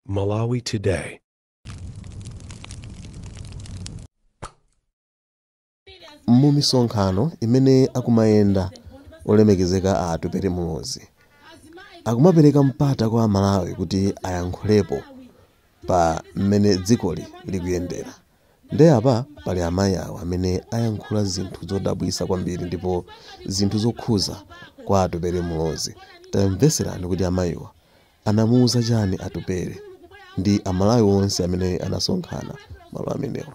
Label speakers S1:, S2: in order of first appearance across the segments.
S1: Malawi
S2: Today. mu misonkhano imene akumayenda olemekezeka a Atupele Muluzi akumapereka mpata kwa amalawi kuti ayankhulepo pa mmene dzikoli likuyendera Nde apa pali amayi awo amene ayankhula zinthu zodabwisa kwambiri ndipo zinthu zokhuza kwa Atupele Muluzi tamveserani kuti amayiwa anamuuza chani Atupele ndi amalawi onse amene anasonkhana malo amenewa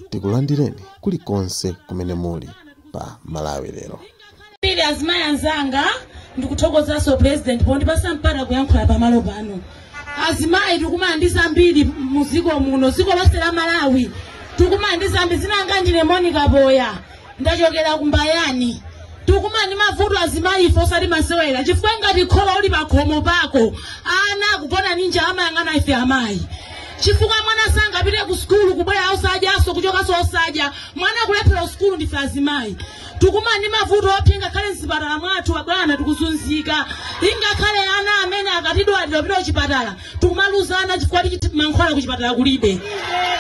S2: tikulandireni kulikonse kumene muli pa Malawi lero. Pili
S3: azimayi anzanga ndikuthokozanso president pondipasa mpata kuyankhula pamalo pano azimayi tikumana ndi zambiri mu dziko muno dziko lonse la malawi tikumana ndi zambiri dzina langa ndine monica boya ndachokera ku Mbayani tikumana ndi mavuto azimayi ife osati masewera chifukwa ngati khola uli pakhomo pako ana akugona ni njala amayang'ana ife amayi chifukwa mwana sangapite ku sukulu kubwera osadyanso kuchokanso osadya mwana akulephera sukulu ndife azimayi tikumana ndi mavuto opsa ngakhale mzipatala mwathu abwana tikuzunzika ingakhale ana amene akatidwalira kupita kuchipatala tikumaluzana chifukwa choti mankhwala kuchipatala kulibe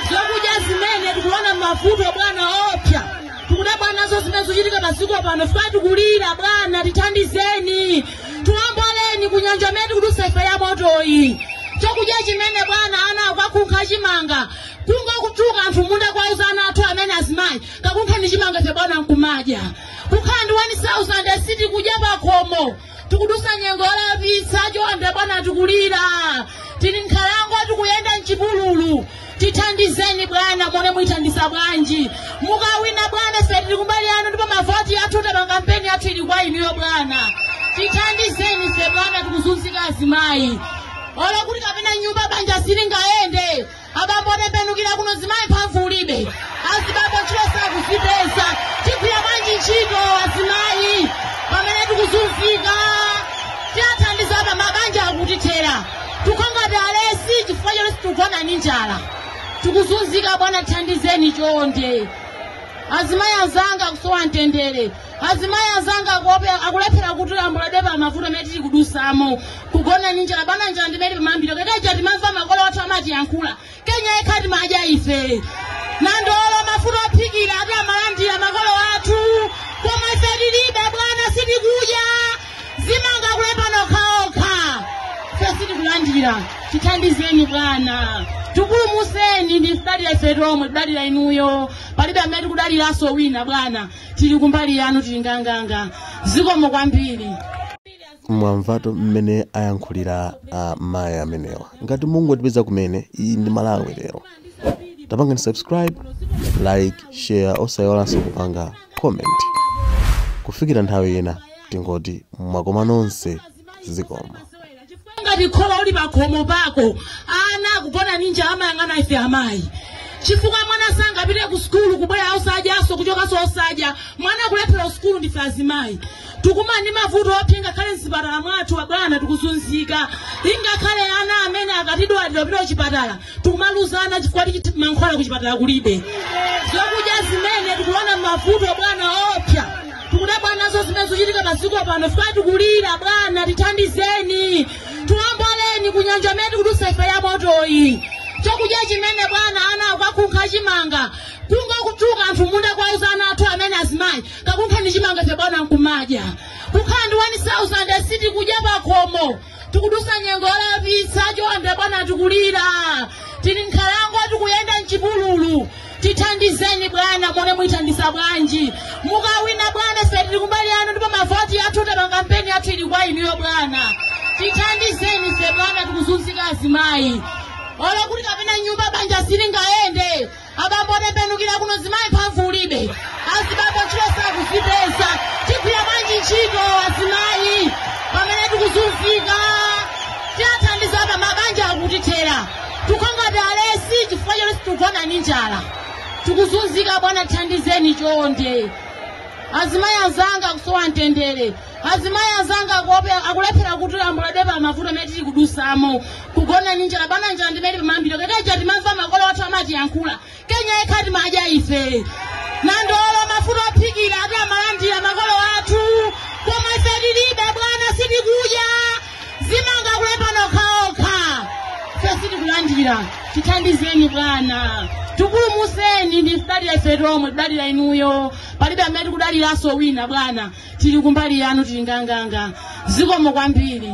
S3: zokudya zimene tikuona mavuto bwana opsa tikudabwa nazo zimene zochitika padziko pano fika tikulira bwana tithandizeni tiwomboleni kunyanja imene tikudusa ife ya motoyi chakudya chimene bwana ana akakunkha chimanga kungokutuka anthu mmunda kuwauza ana athu amene azimayi kakunkheni chimanga cha bwana nkumadya kukhala ndi 1000 sitikudya pakhomo tikudusa nyengo yowawitsa chonde bwana tikulira tili nkhalango tikuyenda mchipululu tithandizeni bwana muone mutithandiza bwanji mukawina bwana ife tili kumbali yanu ndipo mavoti athu tapanga kampeni yathu ili kwa inuyo bwana tithandizeni ife bwana tikuzunzika azimayi olo kuti kapena nyumba banja silingayende abambo otembenukira kuno zimayi mphamvu ulibe azibambo ntchito sakuzipeza tigwira bwanji ntchito azimayi pamene tikuzunzika tiathandiza apa mabanja akutithera tikongati alesi chifukwa choti tikugona ni njala tikuzunzika bwana tithandizeni chonde azimayi azanga akusowa mtendere azimayi azanga akulephera kuti alongosole pa mavuto amene tili kudusamo kugona ndi njala bwana njala ndimene pamambiro kekeja timamva makolo athu amatiyankhula Kenya yekha timadya ife nandolo mafuta ophikira ati amalandira makolo athu koma ife tilibe bwana sitikudya amangolemba okhaokha ife sitikulandira tithandizeni bwana tikulumuseni tikudalira ife tomwe tidalira inuyo palibe amene tikudaliranso wina bwana tili kumbali yanu tili nganganga zikomo kwambiri
S2: mwamvatu mmene ayankhulira a mayi amenewa ngati mungotipeza kumene iyi ndi malawi lero tapangani subscribe like share osayiwalanso kupanga comment kufikira nthawi ina tingoti mwakoma nonse zikomo
S3: ngati kholo uli pakhomo pako ana akugona ni njala amayang'ana ife amayi chifukwa mwana sangapite ku sukulu kubwera osadyanso kuchokanso osadya mwana akulephera sukulu ndife azimayi tikumana ndi mavuto opsa ngakhale mzipatala mwathu abwana tikuzunzika ingakhale ana amene akatidwalira pita kuchipatala tikumaluzana chifukwa tichiti mankhwala kuchipatala kulibe zokudya zimene tikuona mavuto bwana opsa tikudabwa nazo zimene zochitika masiku pano fika tikulira bwana tithandizeni tiwomboleni kunjala imene tikudutsa ife ya motoyi chakudya chimene bwana ana akakunkha chimanga kungokutuka anthu munda kwauza ana athu amene azimayi kakunkha ndi chimanga cha bwana nkumadya kukhala ndi 1000 sitikudya pakhomo tikudutsa nyengo yolapitsa chonde bwana tikulira tili nkhalango tikuyenda mchipululu tithandizeni bwana mone mutithandiza bwanji mukawina bwana ife tili kumbali yanu ndipo mavoti athu tapanga kampeni yathu ili kwa inuyo bwana tithandizeni ife bwana tikuzunzika azimayi olo kuti kapena nyumba banja silingayende abambo akutembenukira kuno mzimayi mphamvu alibe azibambo ntchito sakuzipeza tigwira bwanji ntchito azimayi pamene tikuzunzika tiathandiza apa mabanja akutithera tikongati alesi chifukwa choti tikugona ndi njala tikuzunzika bwana tithandizeni chonde azimayi azanga akusowa mtendere azimayi azanga akuope- akulephera kuti ambuladwe pa mavuto amene tili kudutsamo kugona ndi njala bwana njala ndimene pamambiro kekeja timamva makolo athu amatiyankhula kenya yekha timadya ife nandolo mafuta ophikira ati amalandira makolo athu koma ife tilibe bwana sitikudya zimanga kulembana okhaokha ife sitikulandira tithandizeni bwana tipulumutseni ndikudalira ife tomwe tidalira inuyo palibe amene tikudaliranso wina bwana tili kumbali yanu tili nganganga zikomo kwambiri